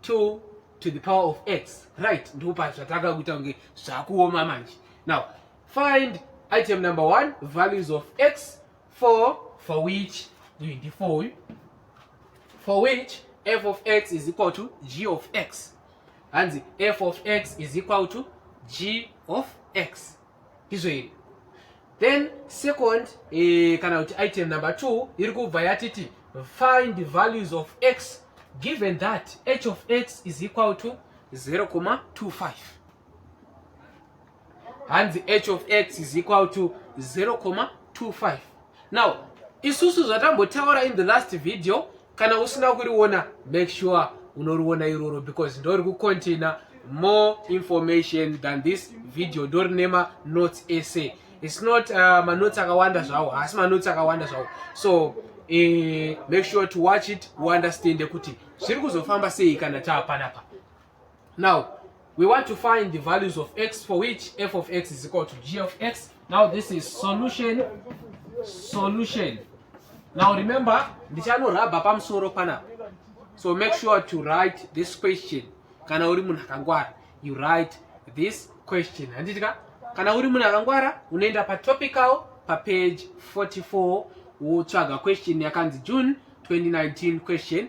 2 to the power of x right ndopa zvatanga kuita kunge zvakuoma manje now find item number 1 values of x for for which uyu ndi for uyu for which f of x is equal to g of x hanzi f of x is equal to g of x izvo iri then second eh, kana kuti item number two iri kubva yatiti find the values of x given that h of x is equal to 0,25 hanzi h of x is equal to 0,25 now isusu zvatambotaura in the last video kana usina kuriona make sure unoriona iroro because ndori kucontaina more information than this video ndori nema notes ese its not uh, manotes akawanda zvawo haasi manotes akawanda zvawo so eh, make sure to watch it uunderstande kuti zviri kuzofamba sei kana taapanapa now we want to find the values of x for which f of x is equal to g of x now this is solution solution now remember ndichanorabha pamusoro panapa so make sure to write this question kana uri munhu akangwara you write this question handiti ka kana uri munhu akangwara unoenda patopical papage 44 wotsvaga question yakanzi june 2019 question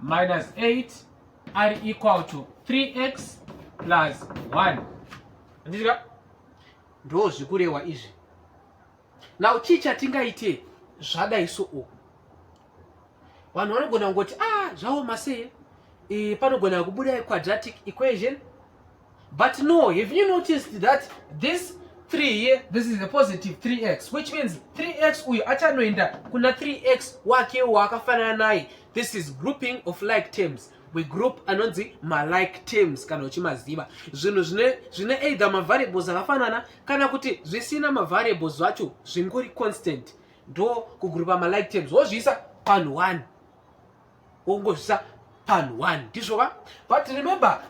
minus 8 ari equal to 3x plus 1 ndizika ndo zvikurehwa izvi now chii chatingaite zvadai so o vanhu vanogona kungoti a ah, zvaoma sei e, panogona kubuda quadratic equation But no, have you noticed that this 3 here, this is a positive 3x, which means 3x uyu achanoenda kuna 3x wake waakafanana naye. This is grouping of like terms. We group anonzi malike terms kana uchimaziva. Zvinhu zvine zvine either mavariables akafanana kana kuti zvisina mavariables zvacho zvingori constant. Ndo kugrupa malike terms wozviisa panhu 1. wongozvisa pan one ndizvo va but remember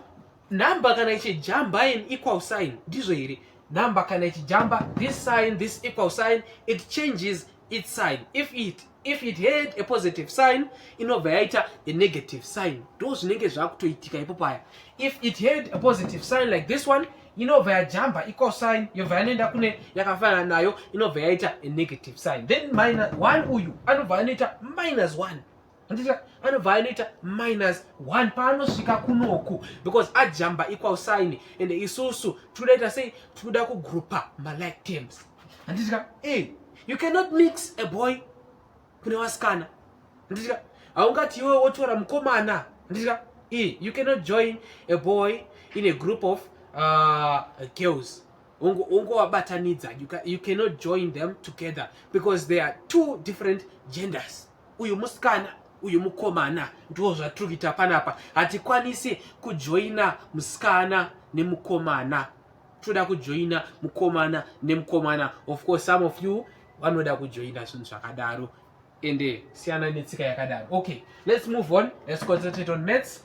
number kana ichijamba in equal sign ndizvo here number kana ichijamba this sign this equal sign it changes its sign if it if it had a positive sign inobva yaita a negative sign ndo zvinenge zvakutoitika ipo paya if it had a positive sign like this one inobva yajamba equal sign yobva yanoenda kune yakafanana nayo inobva yaita a negative sign then minus one uyu anobva anoita minus one Andita anobva anoita minus one paanosvika kunoku because ajamba equal sign and isusu tinoita sei tinoda kugroupa malike terms handitya e you cannot mix a boy kune vasikana handitya haungati iwe wotora mukomana handitya e you cannot join a boy in a group of uh, girls ungovabatanidza you cannot join them together because they are two different genders uyu musikana uyu mukomana ndiwo zvatiri kuita panapa hatikwanisi kujoina musikana nemukomana toda kujoina mukomana nemukomana of course some of you vanoda kujoina zvinhu zvakadaro ende siyana netsika yakadaro okay let's move on let's concentrate on maths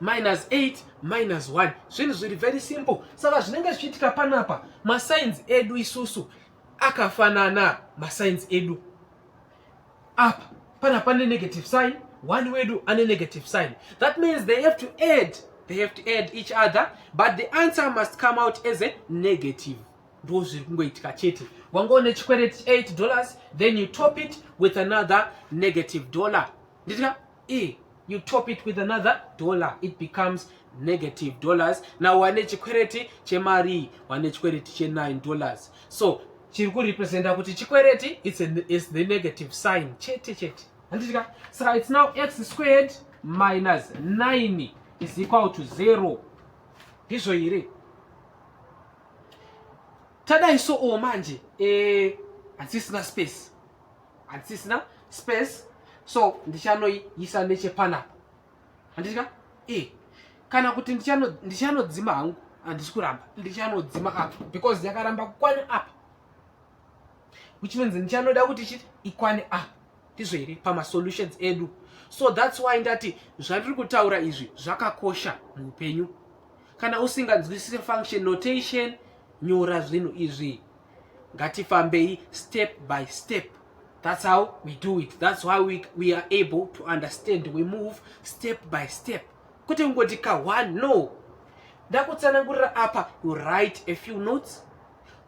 minus 8 minus 1 zvinhu zviri very simple saka zvinenge zvichiitika panapa masainzi edu isusu akafanana masainzi edu apa pana pane negative sign one wedu ane negative sign that means they have to add they have to add each other but the answer must come out as a negative ndo zviri kungoitika chete wanga une chikwereti 8 dollars then you top it with another negative dollar nditika e you top it with another dollar it becomes negative dollars now wane chikwereti chemari wane chikwereti che9 dollars so chiri kurepresenta kuti chikwereti it's, a, it's the negative sign chete chete handitika saka it's now x squared minus 9 is equal to 0 ndizvo here tadai so o manje eh, hatisina space hatisisina space so ndichanoiisa nechepanapa handika e kana kuti ndichanodzima hangu handisi kuramba ndichanodzima apa because yakaramba kukwana apa which means ndichanoda kuti chiti ikwane apa ndizvo here pamasolutions edu so thats why ndati zvandiri kutaura izvi zvakakosha muupenyu kana usinganzwisise function notation nyora zvinhu izvi ngatifambei step by step that's how we do it that's why we, we are able to understand we move step by step kwete kungoti ka one no ndakutsanangurira apa you write a few notes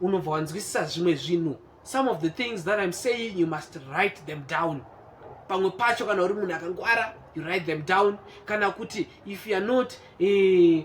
unobva wanzwisisa zvimwe zvinhu some of the things that i'm saying you must write them down pamwe pacho kana uri munhu akangwara you write them down kana kuti if youare not eh,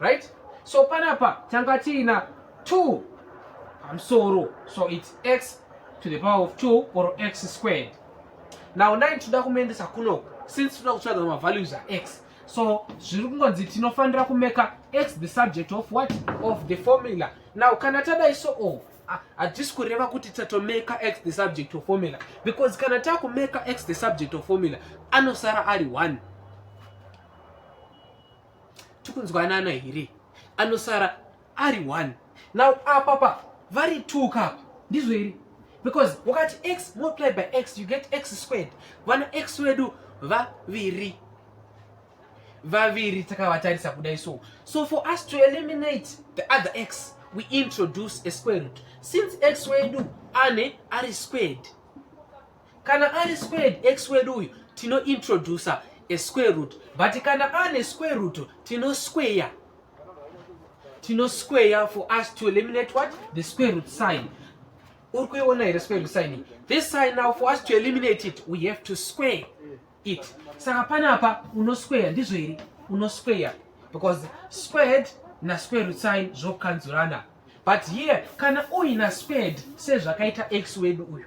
right so panapa tanga tiina 2 pamusoro so its x to the power of 2 or x squared now 9 tinoda kumaendesa kunoku since tinoda kutsvaga mavalues ax so zviri kungonzi tinofanira kumeka x the subject of what of the formula now kana tadai so o hatisi kureva kuti tatomeka x the subject of formula because kana takumeka x the subject of formula anosara ari one tikunzwanana here anosara ari one now apapa vari two kapa ndizvo here because wakati x multiply by x you get x squared vana x wedu vaviri vaviri takavatarisa kudai so so for us to eliminate the other x we introduce a square root since x wedu ane ari squared Kana ari squared x wedu uyu tino introducer a square root but kana ane square root tino square tino square for us to eliminate what the square root sign uri kuiona here square root sign this sign now for us to eliminate it we have to square it saka panapa uno square ndizvo here uno square because squared na square root sign zvokanzurana but here kana uina squared sezvakaita x wedu uyu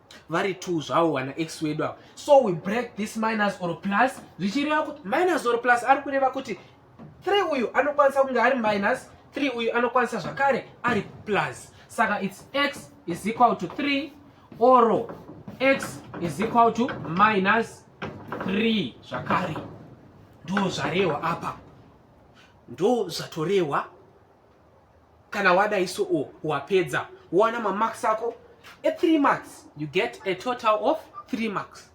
vari two zvavo wana x wedu avo so we break this minus or plus zvichireva kuti minus or plus ari kureva kuti three uyu anokwanisa kunge ari minus three uyu anokwanisa zvakare ari plus saka its x is equal to three or x is equal to minus three zvakare ndo zvarehwa apa ndo zvatorehwa kana wadai so o wapedza wowana mamarks ako e3 marks you get a total of 3 marks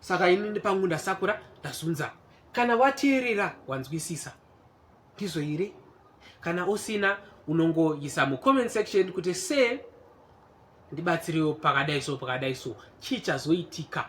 saka ini ndipangu ndasakura ndazunza kana wateerera wanzwisisa ndizvo here kana usina unongoisa mucomment section kuti se ndibatsirewo pakadai so pakadai so chii chazoitika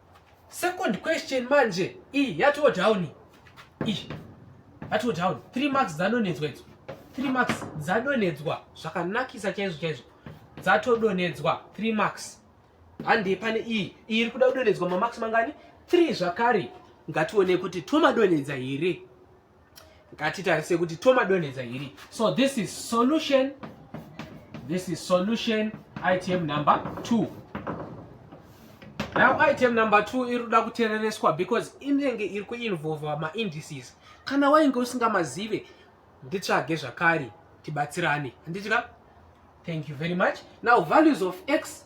Second question manje iyi yatoo down iyi yatoo down three marks dzadonedzwa idzo three marks dzadonedzwa zvakanakisa chaizvo chaizvo dzatodonedzwa three marks handei pane iyi iyi iri kuda kudonedzwa mamarks mangani three zvakare ngatione kuti tomadonedza here ngatitarise kuti tomadonhedza hiri so this is solution this is solution item number two now item number two iri kuda kuterereswa because inenge iri kuinvolva maindices kana wainge usingamazive nditsvage zvakare tibatsirane handitya thank you very much now values of x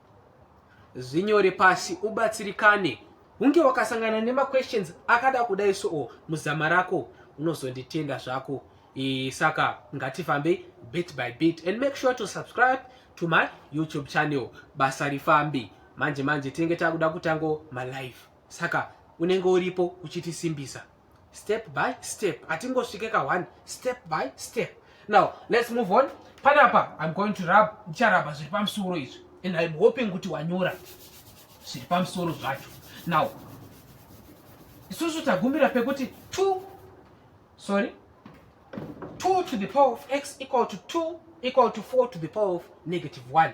zvinyore pasi ubatsirikane hunge wakasangana nemaquestions akada kudai soo muzama rako unozonditenda zvako e, saka ngatifambei bit by bit and make sure to subscribe to my youtube channel basa rifambi manje manje tinenge takuda kutango malive saka unenge uripo uchitisimbisa step by step hatingosvike ka one step by step now let's move on panapa i'm going to rub ndicharabha zviri pamusoro izvi and i'm hoping kuti wanyora zviri pamusoro zvacho now isusu tagumbira pekuti two sorry two to the power of x equal to two equal to four to the power of negative one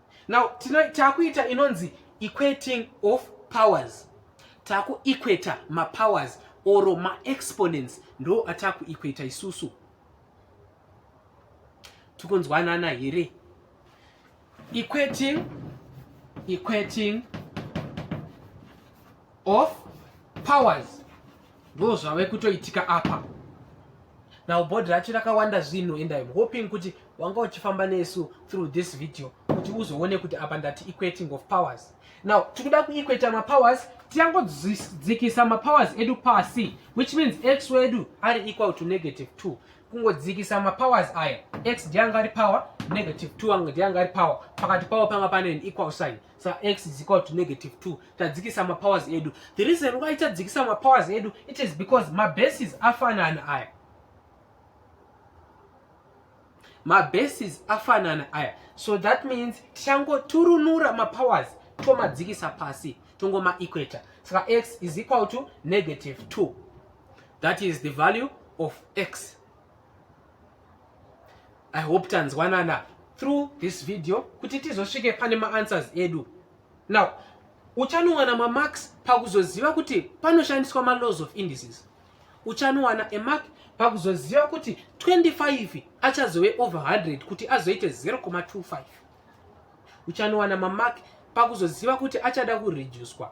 now takuita inonzi equating of powers takuequator mapowers or maexponents ndo atakuequator isusu tikunzwanana here equating equating of powers ndo zvave kutoitika apa now body racho rakawanda zvinhu and im hoping kuti wanga uchifamba nesu through this video kuti uzoone kuti apa ndati equating of powers now tikuda kuequata mapowers tiyangodzikisa mapowers edu pasi which means x wedu ari equal to negative two kungodzikisa mapowers aya x ndianga ari power negative two anga ndianga ari power pakati pavo panga pane an equal sign sa x is equal to negative 2 tadzikisa mapowers edu the reason why tadzikisa mapowers edu it is because mabases afanana aya mabases afanana aya so that means tichangoturunura mapowers tomadzikisa pasi tongomaequator saka x is equal to negative 2 that is the value of x i hope tanzwanana through this video kuti tizosvike pane maanswers edu now uchanowana mamarks pakuzoziva kuti panoshandiswa malaws of indices uchanowana emark pakuzoziva kuti 25 achazove over 100 kuti azoite 0,25 uchanowana mamark pakuzoziva kuti achada kureducwa